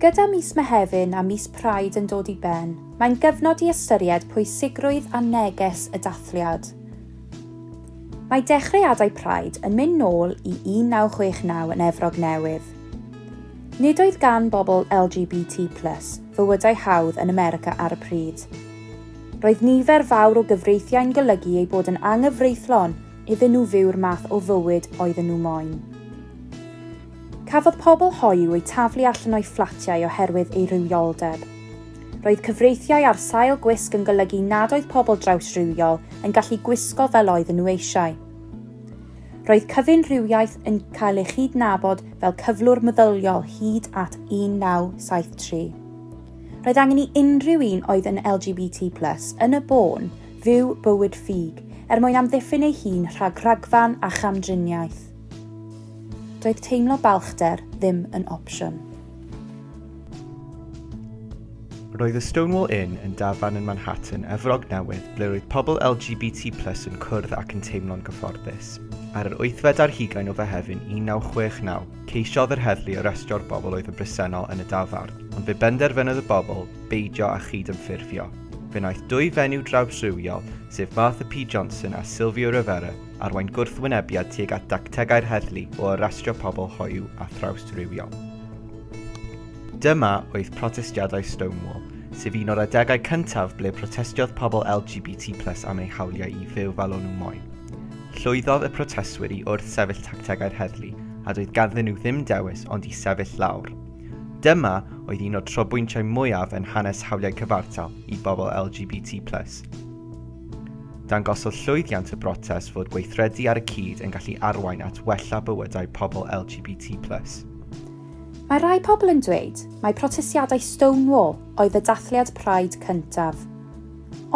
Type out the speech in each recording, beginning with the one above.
Gyda mis Mehefin a mis Pride yn dod i ben, mae'n gyfnod i ystyried pwysigrwydd a neges y dathliad. Mae dechreuadau Pride yn mynd nôl i 1969 yn Efrog Newydd. Nid oedd gan bobl LGBT plus fywydau hawdd yn America ar y pryd. Roedd nifer fawr o gyfreithiau'n golygu eu bod yn anghyfreithlon iddyn nhw fyw'r math o fywyd oedden nhw moyn. Cafodd pobl hoyw eu taflu allan o'u fflatiau oherwydd ei rywioldeb. Roedd cyfreithiau ar sail gwisg yn golygu nad oedd pobl drawsrywiol yn gallu gwisgo fel oedden nhw eisiau. Roedd cyfunrhywiaeth yn cael ei chydnabod fel cyflwr meddyliol hyd at 1973. Roedd angen i unrhyw un oedd yn LGBT+, yn y bôn, fyw bywyd ffug er mwyn amddiffyn ei hun rhag rhagfarn a chamdriniaeth. Doedd teimlo balchder ddim yn opsiwn. Roedd y Stonewall Inn yn dafarn yn Manhattan, Efrog Newydd, ble roedd pobl LGBT plus yn cwrdd ac yn teimlo'n gyfforddus. Ar yr wythfed ar hugain o Fehefin 1969, ceisiodd yr heddlu arestro'r bobl oedd yn bresennol yn y dafarn, ond fe benderfynodd y bobl beidio â chyd-ymffurfio. Fe wnaeth dwy fenyw drawsrywiol, sef Martha P Johnson a Silvio Rivera, arwain gwrthwynebiad tuag at dactegau'r heddlu o arestio pobl hoyw a thrawsrywiol. Dyma oedd protestiadau Stonewall, sef un o'r adegau cyntaf ble protestiodd pobl LGBT plus am eu hawliau i fyw fel o'n nhw moyn. Llwyddodd y protestwyr i wrth sefyll tactegau'r heddlu, a doedd ganddyn nhw ddim dewis ond i sefyll lawr. Dyma oedd un o'r trobwyntiau mwyaf yn hanes hawliau cyfartal i bobl LGBT+. Dangosodd llwyddiant y brotest fod gweithredu ar y cyd yn gallu arwain at wella bywydau pobl LGBT+. Mae rhai pobl yn dweud mai protestiadau Stonewall oedd y dathliad Pride cyntaf.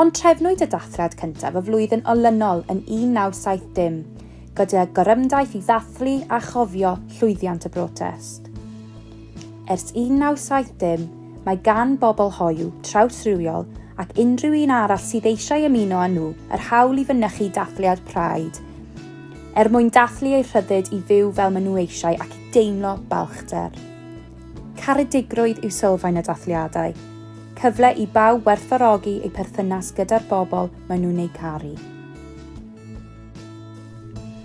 Ond trefnwyd y dathliad cyntaf y flwyddyn olynol yn 1970, gyda gorymdaith i ddathlu a chofio llwyddiant y brotest. Ers 1970, mae gan bobl hoyw, trawsrywiol ac unrhyw un arall sydd eisiau ymuno â nhw yr hawl i fynychu dathliad Pride er mwyn dathlu eu rhyddid i fyw fel maen nhw eisiau ac i deimlo balchder. Caredigrwydd yw sylfaen y dathliadau, cyfle i bawb werthfawrogi eu perthynas gyda'r bobl maen nhw'n eu caru.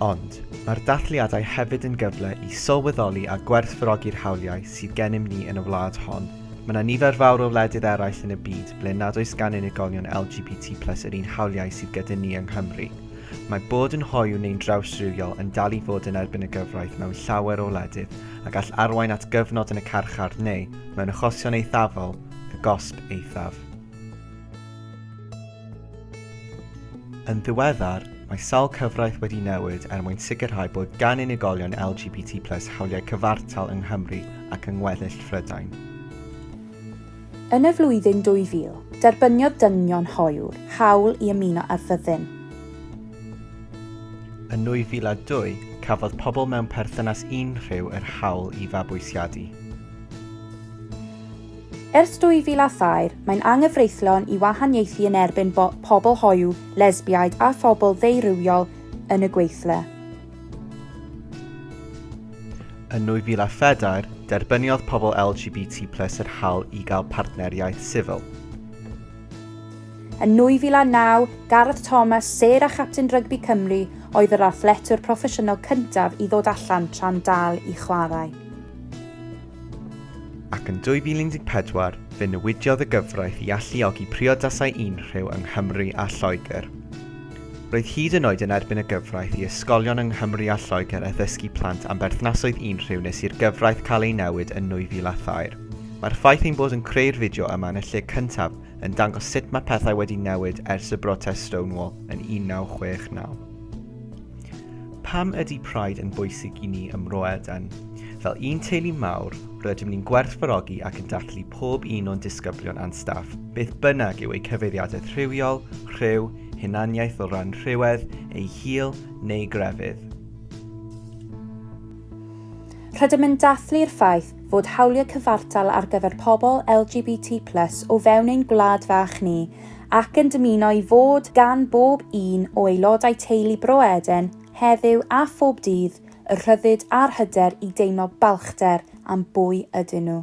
Ond, mae'r dathliadau hefyd yn gyfle i sylweddoli a gwerthfawrogi'r hawliau sydd gennym ni yn y wlad hon. Mae yna nifer fawr o wledydd eraill yn y byd ble nad oes gan unigolion LGBT plus yr un hawliau sydd gyda ni yng Nghymru. Mae bod yn hoyw neu'n drawsrywiol yn dal i fod yn erbyn y gyfraith mewn llawer o wledydd a gall arwain at gyfnod yn y carchar neu, mewn achosion eithafol, y gosb eithaf. Yn ddiweddar, mae sawl cyfraith wedi newid er mwyn sicrhau bod gan unigolion LGBT plus hawliau cyfartal yng Nghymru ac yng ngweddill Phrydain. Yn y flwyddyn 2000, derbyniodd dynion hoyw hawl i ymuno â'r fyddin. Yn 2002, cafodd pobl mewn perthynas unrhyw yr hawl i fabwysiadu. Ers 2000 a thair, mae'n anghyfreithlon i wahaniaethu yn erbyn bo pobl hoyw, lesbiaid a phobl ddeurywiol yn y gweithle. Yn 2004, derbyniodd pobl LGBT plus yr hawl i gael partneriaeth sifil. Yn 2009, Gareth Thomas, sêr a chapten rygbi Cymru, oedd yr athletwr proffesiynol cyntaf i ddod allan tra'n dal i chwarae. ac yn 2014 fe newidiodd y gyfraith i alluogi priodasau unrhyw yng Nghymru a Lloegr. Roedd hyd yn oed yn erbyn y gyfraith i ysgolion yng Nghymru a Lloegr addysgu plant am berthnasoedd unrhyw nes i'r gyfraith cael ei newid yn 2003. Mae'r ffaith ein bod yn creu'r fideo yma yn y lle cyntaf yn dangos sut mae pethau wedi newid ers y brotest Stonewall yn 1969. Pam ydy Pride yn bwysig i ni ym Mro Eden? Fel un teulu mawr, rydym ni'n gwerthfarogi ac yn dathlu pob un o'n disgyblion a'n staff, beth bynnag yw eu cyfeiriadaeth rhywiol, rhyw, hunaniaeth o ran rhywedd, eu hil neu grefydd. Rydym yn dathlu'r ffaith fod hawliau cyfartal ar gyfer pobl LGBT+ o fewn ein gwlad fach ni ac yn dymuno i fod gan bob un o aelodau teulu Bro Eden heddiw a phob dydd y rhyddid a'r hyder i deimlo balchder am bwy ydyn nhw.